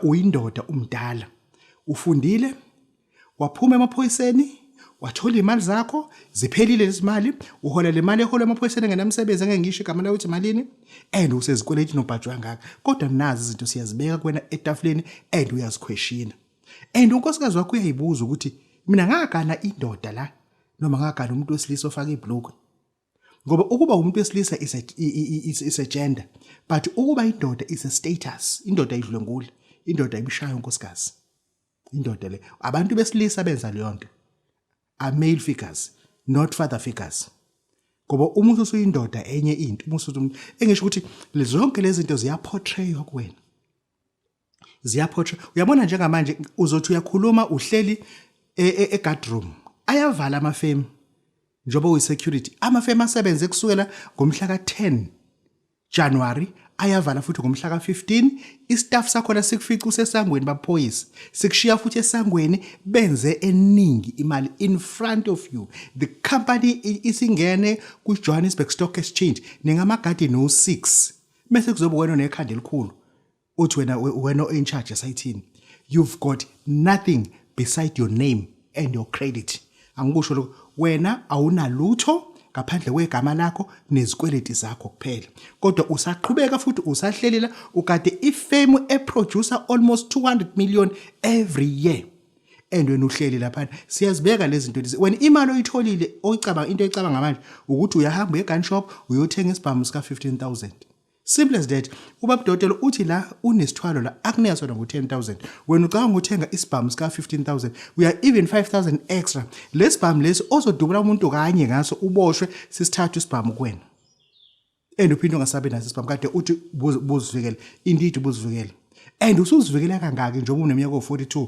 Uyindoda umdala. Ufundile? Waphuma emaphoyiseni? Wathola imali zakho? Ziphelile lezimali? Uhola le mali ehola emaphoyiseni engenamsebenzi engengisho igama layo ukuthi malini? And usezikweleti nobhajwa ngaka. Kodwa nazi izinto siyazibeka kuwena etafuleni and uyazikhweshina. And unkosikazi wakho uyayibuza ukuthi mina ngagana indoda la noma ngagana umuntu wesilisa ofaka ibhlukwe. ngoba ukuba umuntu wesilisa is a, is, is a gender but ukuba indoda is a status indoda idlwengula indoda ibishayo unkosikazi indoda le abantu besilisa benza leyo nto are male figures not father figures ngoba uma usuyindoda enye into uma usuthi engisho ukuthi zonke lezi zinto ziyaportraywa kuwena ziyaphotsha uyabona njengamanje uzothi uyakhuluma uhleli e, e, e-guard room ayavala amafemu njengoba uyi-security amafemu asebenze kusukela ngomhla ka-10 januwari ayavala futhi ngomhla ka-15 istaff sakhona sikufica usesangweni baphoyisa sikushiya futhi esangweni benze eningi imali in front of you the company isingene kwi-johannesburg stock exchange ningamagadi no-6 bese kuzobe wena nekhanda elikhulu uthi wena wena o in charge esayithini you've got nothing beside your name and your credit angikusho lokho wena awunalutho ngaphandle kwegama lakho nezikweleti zakho kuphela kodwa usaqhubeka futhi usahlelela ukade ifemu eproducer almost 200 million every year and wena uhleli lapha siyazibeka lezi zinto lezi wena imali oyitholile oyicabanga into oyicabanga manje ukuthi uyahamba egun shop uyothenga isibhamu sika 15000 Simple as that. Ubaba Dotelo uthi la unesithwalo la akunika sona ngo 10000. Wena ucabanga ukuthenga isibhamu sika 15000. We are even 5000 extra. Lesibhamu lesi ozodubula umuntu kanye ngaso uboshwe sisithathu isibhamu kuwena. And uphinde ungasabe naso isibhamu kade uthi buzivikele. Indeed buzivikele. And usuzivikela kangaki njengoba uneminyaka 42